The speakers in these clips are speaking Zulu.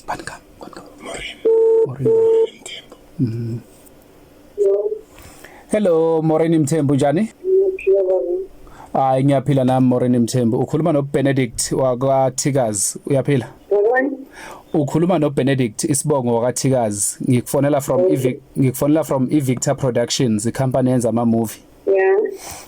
Banka, banka. Morin. Morin. Mthembu. Mm. Hello Morin Mthembu njani? Hayi ngiyaphila nami Morin Mthembu. Ukhuluma no Benedict wakwa Tigers. Uyaphila? Ukhuluma no Benedict isibongo wakwa Tigers. Ngikufonela from Ivik ngikufonela from Ivictor Productions, i company yenza ama movie. Yeah.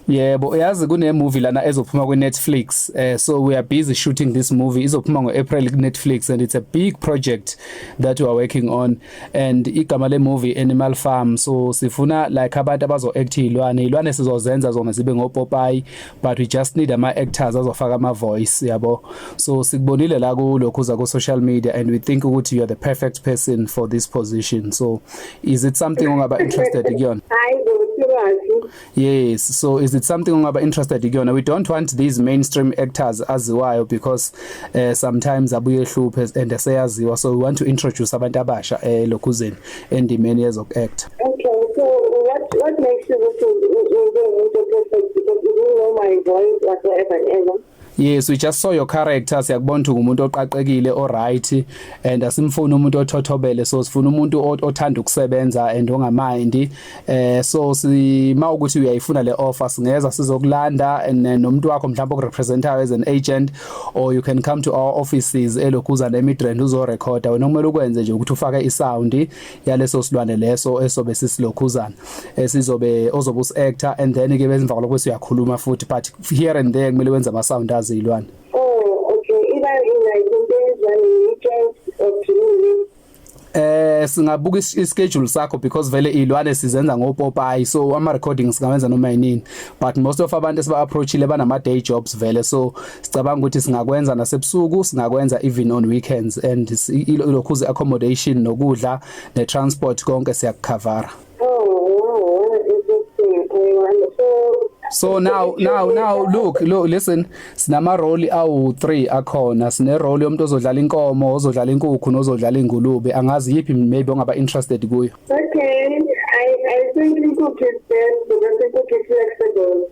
Yebo, uyazi kune movie lana ezophuma ku Netflix. Uh, so we are busy shooting this movie. Izophuma ngo April ku Netflix and it's a big project that we are working on and igama le movie Animal Farm. So sifuna like abantu abazo act ilwane. Ilwane sizozenza zona zibe ngo Popeye but we just need ama actors azofaka ama voice yabo. So sikubonile la ku lokho za ku social media and we think ukuthi you are the perfect person for this position. So is it something ongaba interested kuyona hayi ngosiwazi yes so is it something ongaba interested kuyona we don't want these mainstream actors aziwayo because uh, sometimes abuye ehluphe and eseyaziwa so we want to introduce abantu abasha eh lokhuzeni endimeni yezok act okay so what what makes you look into umuntu ophethe because you know my voice whatsoever and ever Yes, we just saw your character. Siyakubona ukuthi umuntu oqaqekile, oright and asimfuni umuntu othothobele. So sifuna umuntu othanda ukusebenza and ongamindi. Eh so sima ukuthi uyayifuna le offer singeza sizokulanda and eh, nomuntu wakho mhlawumbe okurepresentayo as an agent or you can come to our offices elokuza nemidrand uzo recorda. Wena kumele ukwenze nje ukuthi ufake isound yaleso silwane leso esobe sisilokhuzana. Esizobe eh, ozobe us actor and then ke bezimva kwalokho siyakhuluma futhi but here and there kumele wenze ama sound aze ilwane oh okay iba ina into ezwane weekend or eh singabuka ischedule sakho because vele ilwane sizenza ngopopayi so ama recordings singawenza noma yini but most of abantu esiba approachile banama day jobs vele so sicabanga ukuthi singakwenza nasebusuku singakwenza even on weekends and ilokhuze accommodation nokudla ne transport konke siyakucover so now now now look look listen sinama role awu 3 akhona sine role yomuntu ozodlala inkomo ozodlala inkukhu nozodlala ingulube angazi yipi maybe ongaba interested kuyo okay i i think inkukhu is best because inkukhu is flexible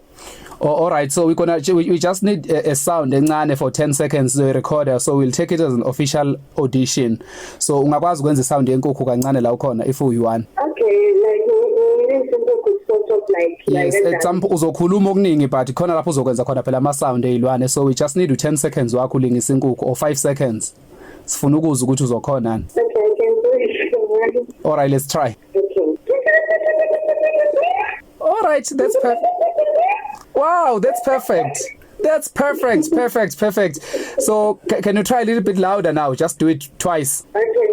Oh, all right so we gonna we, we just need a, a sound encane for 10 seconds the recorder so we'll take it as an official audition so ungakwazi ukwenza sound yenkukhu kancane la ukhona if you want okay like sort of like yes like at some uzokhuluma okuningi but khona lapho uzokwenza khona phela ama sound ezilwane so we just need u 10 seconds wakho ulingisa inkukhu or 5 seconds sifuna ukuzwa ukuthi uzokhona ni all right let's try all right that's perfect wow that's perfect That's perfect, perfect, perfect. So can you try a little bit louder now? Just do it twice. Okay.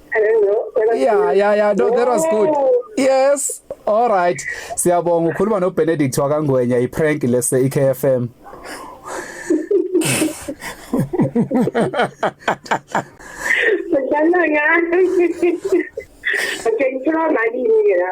yeah yeah yeah no that was good yes all right siyabonga ukhuluma no Benedict wakangwenya i prank lese iKFM Sejana nga. Oke, ito na mali niya.